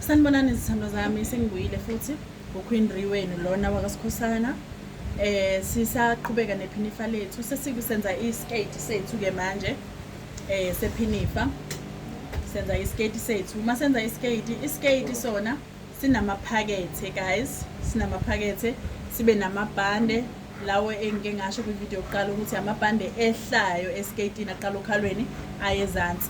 sanibonani izithambo zami sengibuyile futhi uqueen re wenu lona wakasikhosana eh sisaqhubeka nephinifa lethu sesikusenza iskate sethu ke manje eh sephinifa senza iskate sethu uma senza iskate iskate sona sinamaphakethe guys sinamaphakethe sibe namabhande lawo engike ngasho kwivideo yokuqala ukuthi amabhande ehlayo eskatini aqala okhalweni ayezansi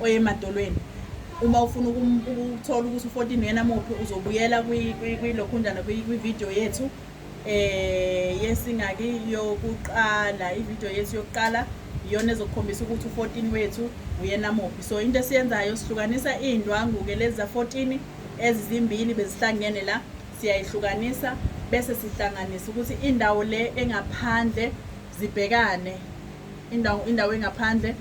oyemadolweni uma ufuna ukuthola ukuthi u-14 uyena muphi uzobuyela kwilokhunjana kwividiyo yethu um eh, yesingaki yokuqala ividiyo yethu yokuqala iyona ezokukhombisa ukuthi u-14 wethu uyena muphi so into esiyenzayo sihlukanisa iy'ndwangu-ke lezi za-14 ezizimbili bezihlangene la siyayihlukanisa bese sihlanganisa ukuthi indawo le engaphandle zibhekane indawo indawo engaphandle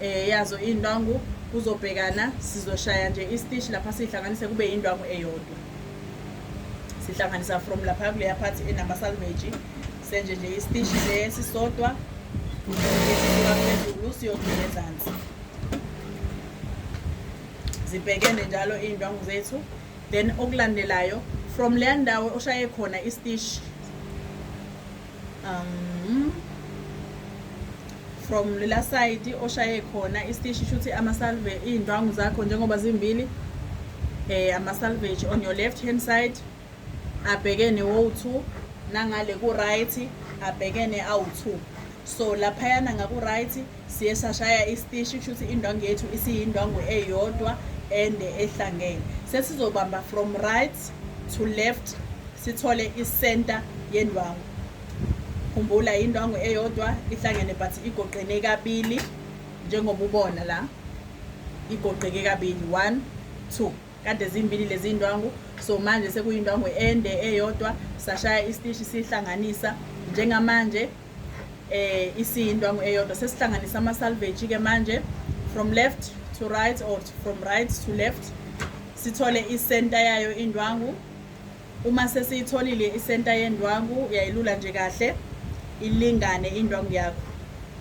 eh yazo indwangu kuzobhekana sizoshaya nje istish lapha sihlanganise kube indwangu eyodwa sihlanganisa from lapha kuleya part enama salvage senje nje istish le sisodwa phezulu siyodlula ezansi zibhekene njalo iy'ndwangu zethu then okulandelayo from leya ndawo oshaye khona istishi um from lela side oshaye khona istishi shuthi amasalve iy'ndwangu zakho njengoba zimbili eh amasalvage on your left hand side abhekene wo-two nangale ku-right abhekene awu-two so laphayana ngaku-right siye sashaya isitishi kusho ukuthi indwangu yethu isiyindwangu eyodwa ende ehlangene sesizobamba from right to left sithole isenta yendwangu khumbula indwangu eyodwa ihlangene but igoqene kabili njengoba ubona la igoqeke kabili one two kade zimbili lezi ndwangu so manje sekuyindwangu ende eyodwa sashaya isitishi sihlanganisa njengamanje eh isindwangu eyodwa sesihlanganisa ama salvage ke manje from left to right or from right to left sithole isenta yayo indwangu uma sesiyitholile isenta yendwangu uyayilula nje kahle ilingane indwangu yakho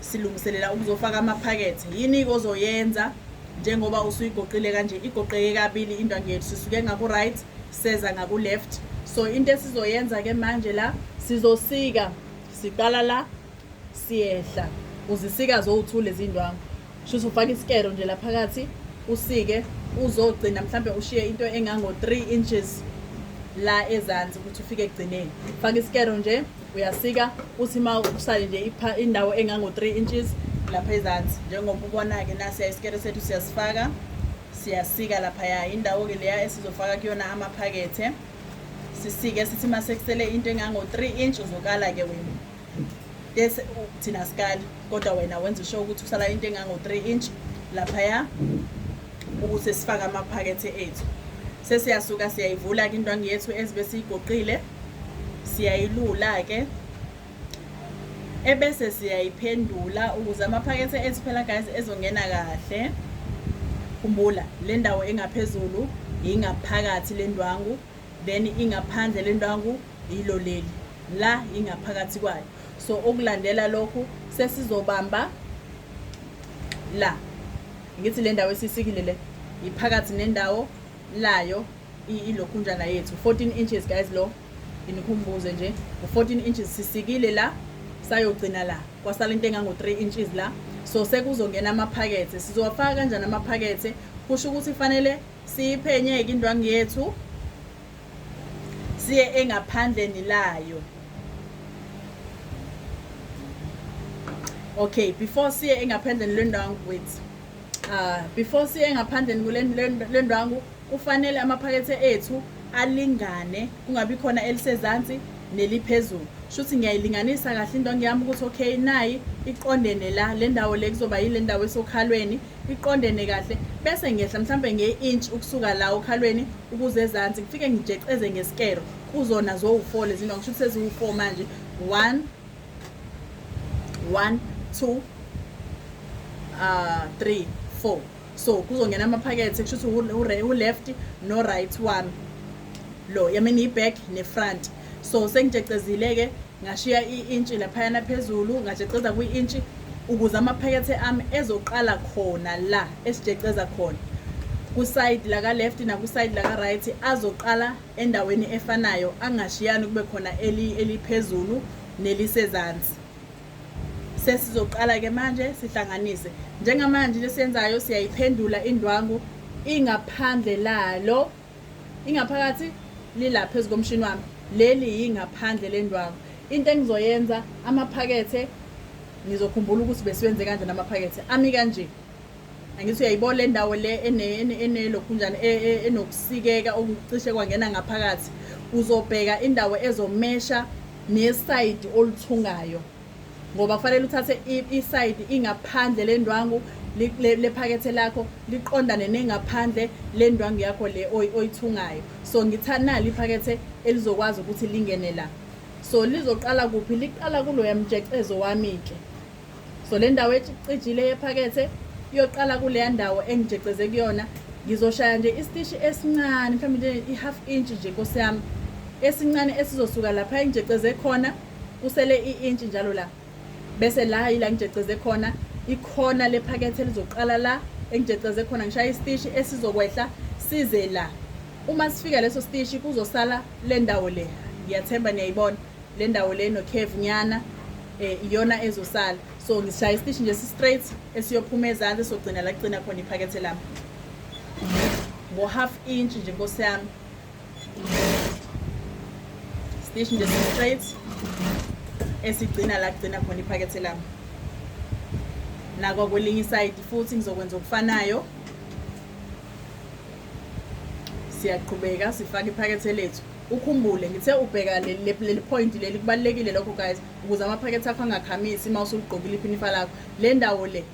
silungiselela ukuzofaka amaphakethe yini ozoyenza njengoba usuyigoqile kanje igoqeke kabili indwangu yethu sisuke ngaku-right seza ngaku-left so into esizoyenza-ke manje la sizosika siqala la siyehla uzisika zowu-two lezi ndwangu shuthi ufake isikero nje la phakathi usike uzogcina mhlawumbe ushiye into engango-three inches la ezansi ukuthi ufike ekugcineni fake isikero nje uyasika uthi uma usale nje indawo engango-three inches lapha ezansi njengoba ubona-ke nasiya isikero sethu siyasifaka siyasika laphaya indawo-ke leya esizofaka kuyona amaphakethe sisike sithi uma sekusele into engango-three inch uzokala-ke wena bese thina sikali kodwa wena wenza usho ukuthi kusala into engango-three inch laphaya ukuthi sifake amaphakethe ethu sesiyasuka siyayivula-ke indwangu yethu ezibe siyigoqile siyayilula-ke ebese siyayiphendula ukuze amaphakethe ethu phela guys ezongena kahle khumbula le ndawo engaphezulu ingaphakathi le ndwangu then ingaphandle le ndwangu yilo leli la ingaphakathi kwayo so ukulandela lokhu sesizobamba la ngithi le ndawo esisikile le iphakathi nendawo layo ilokhunjana yethu 14 inches guys lo nginikhumbuze nje u-14 inches sisikile la sayogcina la kwasala into engango-3 inches la so sekuzongena amaphakethe sizowafaka kanjani amaphakethe kusho ukuthi fanele siyiphenye-ke indwangu yethu siye engaphandleni layo okay before siye engaphandleni lendwangu wethu Uh, before siye ngaphandle kulendwangu kufanele amaphakethe ethu alingane kungabi khona elisezansi neliphezulu shuthi ngiyayilinganisa kahle into ngiyami ukuthi okay nayi iqondene la le ndawo le kuzoba yile ndawo esokhalweni iqondene kahle bese ngiyehla mhlawumbe nge-inch ukusuka la okhalweni ukuze ezansi ngifike ngijeceze ngesikero kuzona zowu-four lezi nto ngisho ukuthi seziwu-four manje one one two uh, three four so kuzongena amaphakethe kusho ukuthi u-left no-right wami lo yamini i-back ne-front so sengijecezile-ke ngashiya i-intshi laphayana phezulu ngajeceza kwi-intshi ukuze amaphakethe ami ezoqala khona la esijeceza khona kusayidi laka-left nakusayidi laka-right azoqala endaweni efanayo angashiyani kube khona eli eliphezulu nelisezansi sesizoqala ke manje sihlanganise njengamanje into esiyenzayo siyayiphendula indwangu ingaphandle lalo ingaphakathi lila phezu komshini wami leli yingaphandle lendwangu into engizoyenza amaphakethe ngizokhumbula ukuthi besiwenze kanje namaphakethe ami kanje Angithi uyayibona le ndawo le enelokhunjana e, e, enokusikeka okucishe kwangena ngaphakathi uzobheka indawo ezomesha nesayidi oluthungayo ngoba kufanele uthathe isayidi ingaphandle lendwangu lephakethe lakho liqondane nengaphandle lendwangu yakho le oyithungayo so ngitha nali iphakethe elizokwazi ukuthi lingene la so lizoqala kuphi liqala kuloya mjecezo wami-ke so le ndawo ecijile yephakethe iyoqala kuleya ndawo engijeceze kuyona ngizoshaya nje isitishi esincane mhlawumbe nje i-half inch nje nkosi yami esincane esizosuka lapha engijeceze khona kusele i-inch njalo la bese la yila ngijeceze khona ikhona lephakethe lizoqala la engijeceze khona ngishaya isitishi esizokwehla size la uma sifika leso sitishi kuzosala le ndawo le ngiyathemba niyayibona le ndawo le nocave nyana um iyona ezosala so ngisishaya isitishi nje si-straight esiyophuma ezansi sogcina la kugcina khona iphakethe lami ngo-half inch nje nkosi yami sitishi nje si-straight esigcina la kugcina khona iphakethe lami nakwakulinye isayidi futhi ngizokwenza okufanayo siyaqhubeka sifake iphakethe lethu Ukhumbule ngithe ubheka leli point leli kubalulekile lokho guys ukuze amaphakethe akho angakhamisi uma usuligqokile iphinifa lakho le ndawo le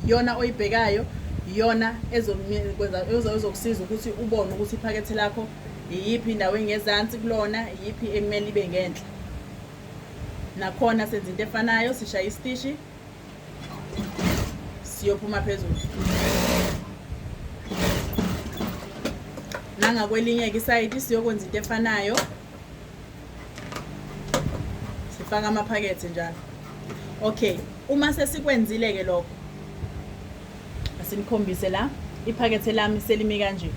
yona oyibhekayo yona ezokusiza ukuthi ubone ukuthi iphakethe lakho iyiphi indawo engezansi kulona iyiphi ekumele ibe ngenhla nakhona senza into efanayo sishaya isitishi siyophuma phezulu nangakwelinye-ke isayidi siyokwenza into efanayo sifaka amaphakethe njalo okay uma sesikwenzile-ke lokho asinikhombise la iphakethe lami selimi kanje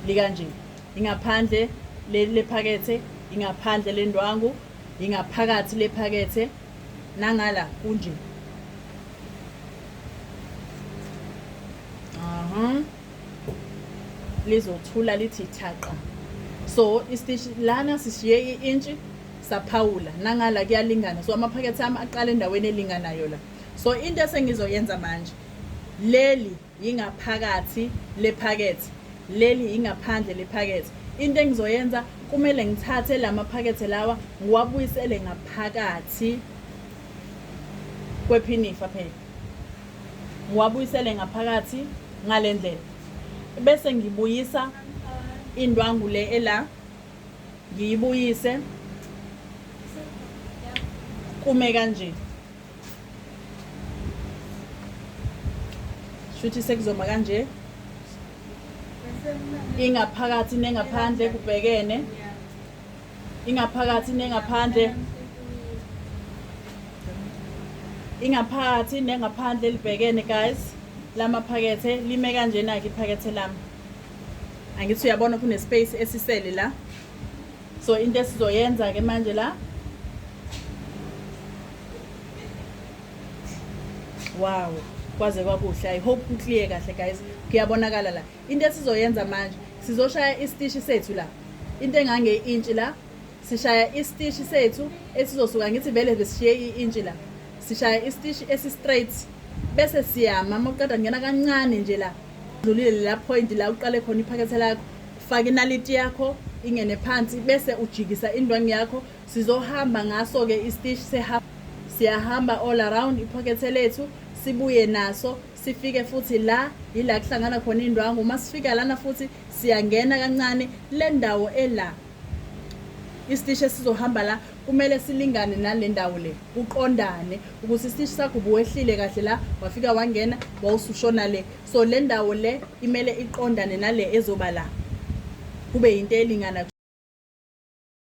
likanje ingaphandle lephakethe ingaphandle lendwangu ingaphakathi lephakethe nangala kunje aha lizothula lithi thaqa so istishi lana sishiye i-intshi saphawula nangala kuyalingana so amaphakethe ami aqala endaweni elinganayo la so into esengizoyenza manje leli Yingaphakathi lephakethe. Leli yingaphandle lephakethe. Into engizoyenza kumele ngithathe la maphakethe lawa ngiwabuyisele ngaphakathi kwephinifa phela. Ngiwabuyisele ngaphakathi ngale ndlela. Bese ngibuyisa indwangu le ela ngiyibuyise kume kanje. shuthi sekuzoma kanje ingaphakathi nengaphandle kubhekene ingaphakathi nengaphandle ingaphakathi nengaphandle libhekene guys lamaphakethe lime kanjena-ke iphakethe lami angithi uyabona kunespace esisele la so into esizoyenza ke manje la wow kwaze kwakuhle i hope kuclear kahle guys kuyabonakala la into esizoyenza manje sizoshaya isitishi sethu la into engange intshi la sishaya isitishi sethu esizosuka ngithi vele besishiye i-intshi la sishaya isitishi esi-straight bese siyama uma uqeda kungena kancane nje la dlulile la point la uqale khona iphakethe lakho Faka inaliti yakho ingene phansi bese ujikisa indwangu yakho sizohamba ngaso-ke istish sehamba siyahamba all around iphokethe lethu sibuye naso sifike futhi la yila kuhlangana khona indwangu uma sifika lana futhi siyangena kancane le ndawo ela isitishi esizohamba la kumele silingane nale ndawo le kuqondane ukuthi isitishi sakho buwehlile kahle la wafika wangena wawusushona le so le ndawo le imele iqondane nale ezoba la kube yinto elingana